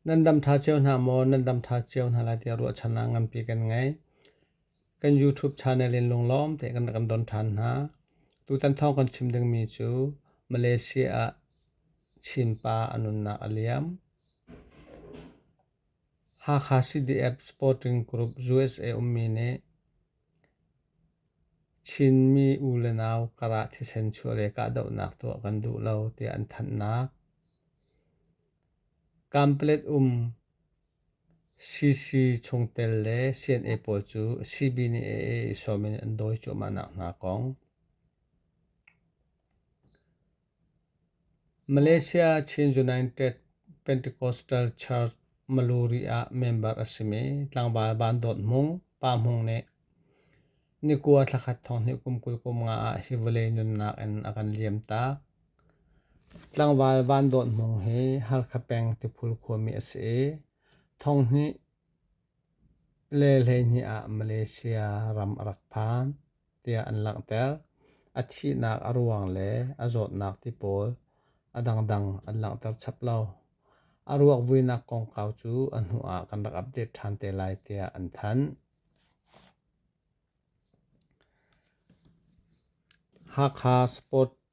Nan dam ṭha cio hna maw? Nan dam ṭha cio hna lai tiah ruahchan ah nganpi kan ngei. Kan YouTube channel in lunglawm te kan kan don ṭhan hna. Tutan thawng kan chim dingmi cu Malaysia ah Chinpa a nunnak a liam. Hakha CDF Sporting Group USA ummi nih Chinmi u le nau karah thisen chuah le kahdohnak tuah kan duh lo tiah an thanhnak. Kamplet um CC chungtel le CNA pawl cu CB nih AA i sawm in an dawi cuahmahnak hna kong. Malaysia Chin United Pentecostal Church Maluri ah member a simi tlangval Vandawt Hmung, Pa Hmung nih nikua thlakhat thonghnih kum kul kum nga ah hi vawlei nunnak in a kan liamtak. Tlangval Vandawt Hmung hi Halkha peng Tiphul khuami a si i thonghnih le hleihnih ah Malaysia ram a rak phan. tiah an langhter. A thihnak a ruang le a zawtnak ti pawl a dangdang an langhter chap lo. A ruak vuinak kongkau cu a hnu ah kan rak update ṭhan te lai tiah an thanh. Hakha Sport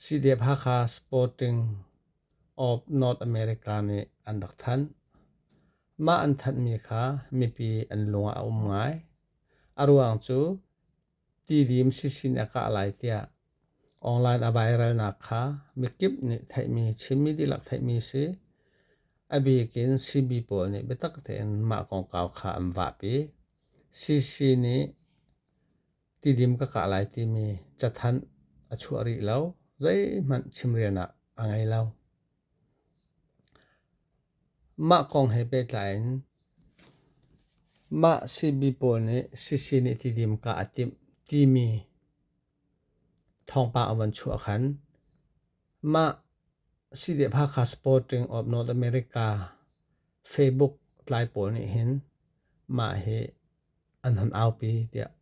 Sidep Hakha Sporting of North America nih an rak thanh. Mah an thanhmi kha mipi an lung ah a um ngai. A ruang cu tidim sisin a kah lai tiah online a viralnak kha mikip nih theihmi Chinmi dihlak theihmi si. A bikin CB pawl nih biatak tein mah kongkau kha an vahpi. CC nih Tidim ka kah lai timi cathanh a chuah rih lo. Zeihmanh chimrelnak a ngei lo. Mah kong he pehtlai in mah sibi pawl nih sisi nih tidim ka a timh timi thawngpang a von chuah khan mah CDPHAKA Supporting of North America Facebook tlai pawl nih hin mah hi an hun aupi tiah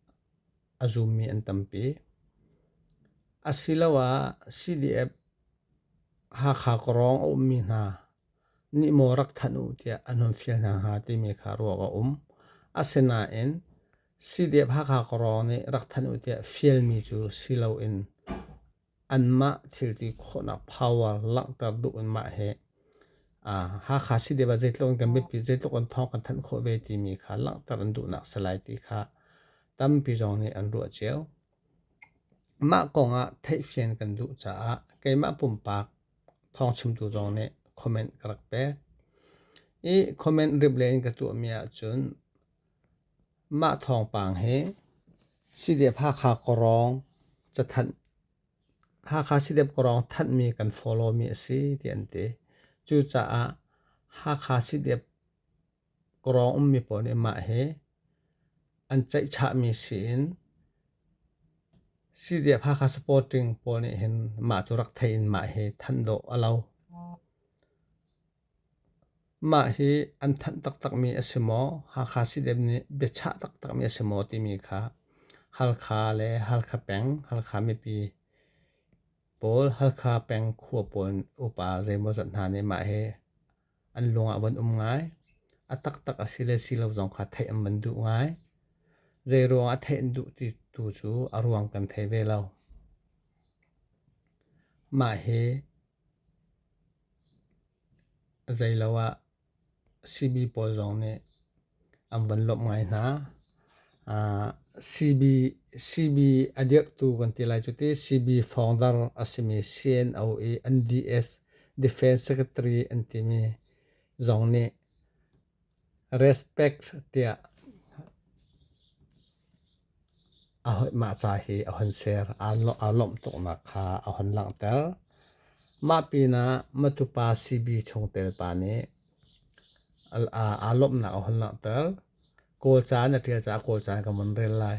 a zummi an tampi. Asiloah CDF Hakha Kawrawng a ummi hna nih maw rak thanh u tiah an hun fial hna hnga timi kha ruah a um. Asinain CDF Hakha Kawrawng nih rak thanh u tiah fialmi cu si loin anmah thilti khawhnak power langhter duh in mah hi Hakha City va zeitluk in kan biapi zeitluk in thawng kan thanh khawh ve timi kha langhter an duhnak si lai ti kha tampi zong nih an ruah cio. Mah kong ah theihfian kan duh caah keimah pumpak thawng chimtu zong nih comment ka rak pek. I comment rip le in ka tuahmi ahcun Mah thawngpang hi Sidep Hakha Kawrawng cathanh Hakha Sidep Kawrawng thanhmi kan follow mi a si ti an ti. Cucaah Hakha Sidep Kawrawng ummi pawl nih mah hi an ceihchahmi siin Sidep Hakha Supporting pawl nih hin mah cu rak thei in mah hi thanh dawh a lo. Mah hi an thanh taktakmi a si maw? Hakha State nih biachah taktakmi a si maw timi kha Halkha le Halkha peng, Halkha mipi pawl, Halkha peng khua pawl upa zeimawzat hna nih mah hi an lungah von um ngai. A taktak a si le si lo zong kha theih an van duh ngai. Zeiruang a theih an duh ti tu cu a ruang kan thei ve lo. Mah hi Zeilo ah sihni pawl zong nih an van lawmh ngai hna. Sihni, sihni a dirhtu kan ti lai cu ti sihni founder a simi CNO i NDS Defence Secretary an timi zong nih Respect tiah a hoih mah ca hi a hun ser. Aa lawmh tuknak kha a hun langhter. Mah pinah matupa CB chungtel pa nih aa lawmhnak a hun langhter. Kawl ca na ṭial caah Kawl ca in kan vun rel lai.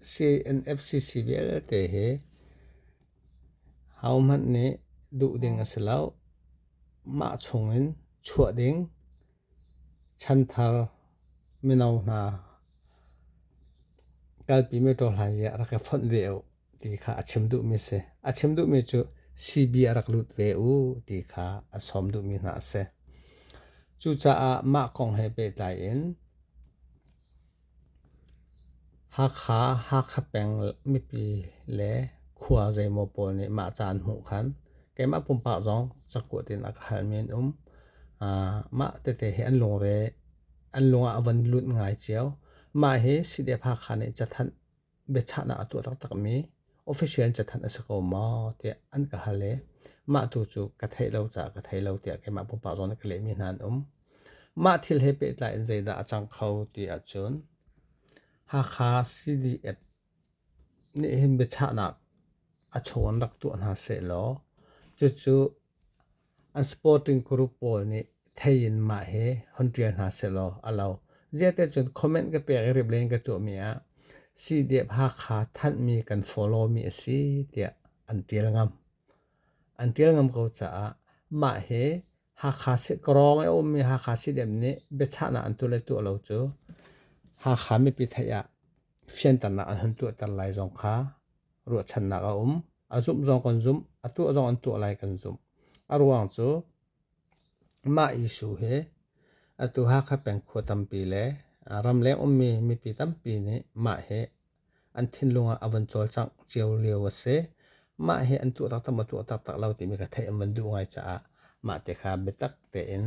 CNFCC vialte hi hohmanh nih duh ding a si lo. Mah chungin chuah ding chanthar mino hna kalpi mi tu hlai i a rak i fonh ve u ti kha a chim duhmi si. A chim duhmi cu CB a rak lut ve u ti kha a sawm duhmi hna a si. Cucaah mah kong he pehtlai in Hakha, Hakha peng mipi le khua zeimaw pawl nih mah ca an hmuh khan keimah pumpak zong cakuat in a ka halmi an um. Mah tete hi an lungre, an lung ah a van lut ngai cio. Mah hi Sideep Hakha nih cathanh biachahnak a tuah taktakmi official in cathanh a si ko maw tiah an ka hal i mah tu cu ka theih lo caah ka thei lo tiah keimah pumpak zong nih ka lehmi hna an um. Mah thil he pehtlai in zeidah a cang kho ti ahcun Hakha CDF nih hin biachahnak a chaw in rak tuah hna sehlaw cucu An sporting group pawl nih thei in mah hi hon ṭial hna sehlaw a lo. Ziate cun comment ka pek i rip len ka tuahmi ah CDF Hakha thanhmi kan follow-mi a si tiah an ṭial ngam. An ṭial ngam ko caah mah hi Hakha Krawng i a ummi Hakha CDF nih biachahnak an tuah le tuah lo cu Hakha mipi theih ah fianternak an hun tuahter lai zong kha ruahchannak a um. A zumh zong kan zumh, a tuah zong an tuah lai kan zumh. A ruang cu mah Jesuh hi atu Hakha peng khua tampi le ramleng ummi mipi tampi nih mah hi an thinlung ah a van cawlcangh cio lio a si. Mah hi an tuah taktak maw tuah taktak lo timi ka theih an van duh ngai caah mah te kha biatak tein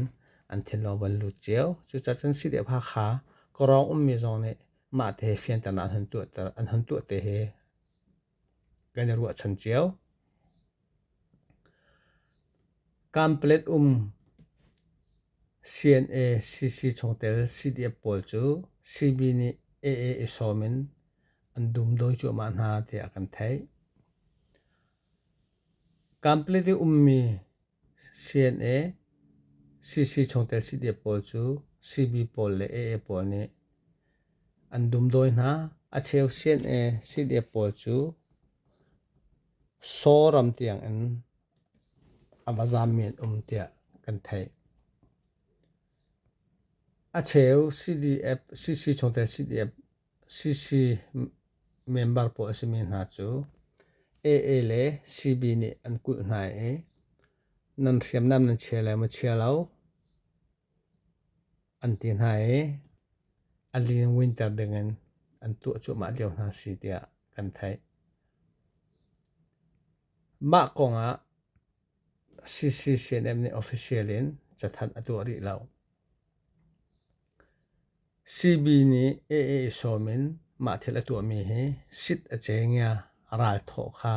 an thinlung a van lut cio. Cucaah cun Sideep Hakha, Kawrawng ummi zong nih Mahte fianternak an hun tuah te hi kan i ruahchan cio. Kamplet um CNA CC chungtel CDF pawl cu CB nih AA i sawm in an dum dawi cuahmah hna tiah kan theih. Kamplet i ummi CNA, CC chungtel CDF pawl cu CB pawl le AA pawl nih an dumdawi hna. A cheu CNA, CDF pawl cu Saw ram tiangin a va zaammi an um tiah kan theih. A cheu CDF, CC chungtel CDF CC member pawl a simi hna cu AA le CB nih an kulh hna i nan hriamnam nan chia le maw chia lo an ti hna i a lin winter dingin an tuah cuahmah lio hna si tiah kan theih. Mah kongah CCCNM nih official in cathanh a tuah rih lo. CB nih AA sawm in mah thil a tuahmi hi sit a cengia ral thawh kha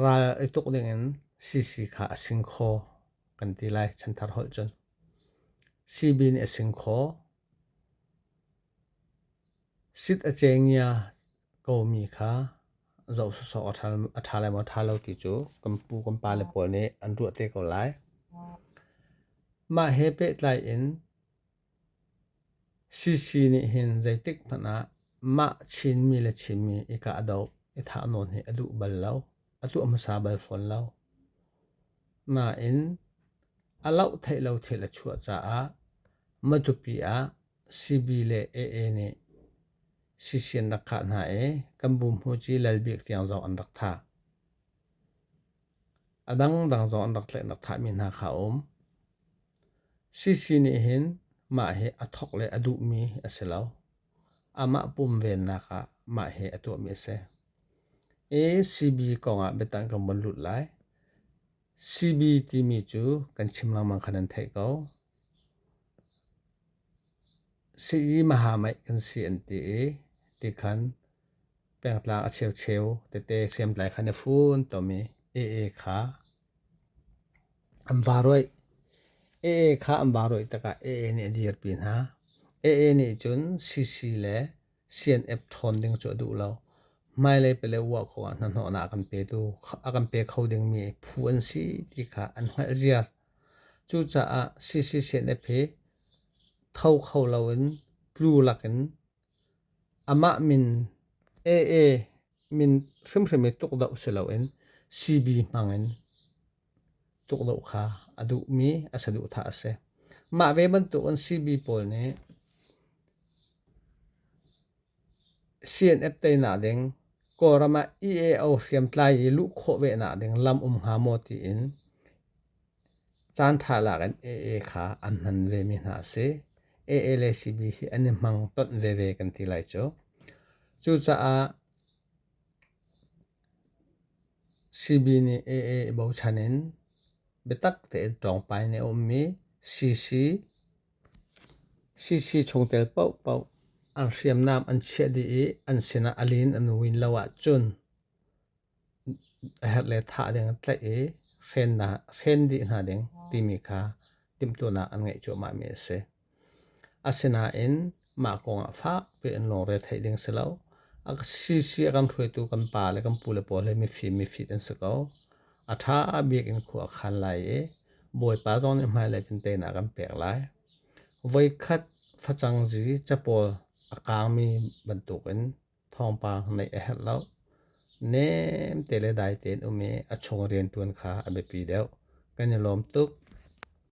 ral i tuk dingin CC kha a sing khaw kan ti lai chanthar holh cun. CB nih a sing khaw. Sit a cengia kaumi kha zoh sawsawh a ṭha lai maw ṭha lo ti cu kan pu kan pa le pawl nih an ruah te ko lai. Mah he pehtlai in Sisi nih hin zeitik hmanh ah mah Chinmi le Chinmi i kah doh i thah nawn hi a duh bal lo, a tuah hmasa bal fawn lo. Nain, a loh theih lo thil a chuah caah Matupi ah Sibi le AA nih sisi an rak khah hna i kan bumhmuci Lal Bik tiang zong an rak thah. A dangdang zong an rak tlaih nak thahmi hna kha a um. Sisi nih hin mah hi a thawk le a duhmi a si lo. amah pumvennak ah mah hi a tuahmi a si. ACB kongah biatak kan vun lut lai. CB timi cu kan chim lengmang khan an theih ko. Sii mahamai kan si an ti i ti khan pengtlang a cheu cheu tete hriamtlai khan a fun tomi AA kha An va ruaih. Ee kha an va ruaih tikah ee nih a dirpi hna. Ee nih cun sisi le CNF ṭhawn ding cu a duh lo. Hmailei pele uah kho ah hnahnawhnak an pe tu, a kan pe kho dingmi phu an si ti kha an hngalh ziar. Cucaah sisi CNF hi tho kho loin tlu lakin Amah min AA min hrimhrim i tukdoh si loin CB hmangin tukdoh kha a duhmi a si duhthah a si. Mah ve bantukin CB pawl nih CNF teinak ding Kawlram ah EAO hriamtlai i luh khawh ve nak ding lam um hnga maw tiin Caanṭha lak in AA kha an hman vemi hna a si. AA le CB hi an i hmang tonh veve kan ti lai cu. Cucaah CB nih AA i bochan in biatak tein ṭawngpai ni a ummi CC, CC chungtel paohpaoh an hriamnam an chiah dih i an sinah a lin a nu in lo ahcun a herh le thah ding an tlaih i hren dih hna ding timi kha timhtuahnak an ngeih cuahmahmi a si. Asinain mah kongah fak piin lungre theih ding si lo. A sisi a kan hruaitu kan pa le kan pu le pawl hi mifim mifit an si ko. A ṭha bik in khua a khan lai i Bawipa zong nih hmailei vinteinak a kan pek lai. Voikhat facang zi capawl a kaangmi bantukin Thawngpang neih a herh lo. Nem te le dai tein um i a chung riantuan kha a biapi deuh. Kan i lawm tuk.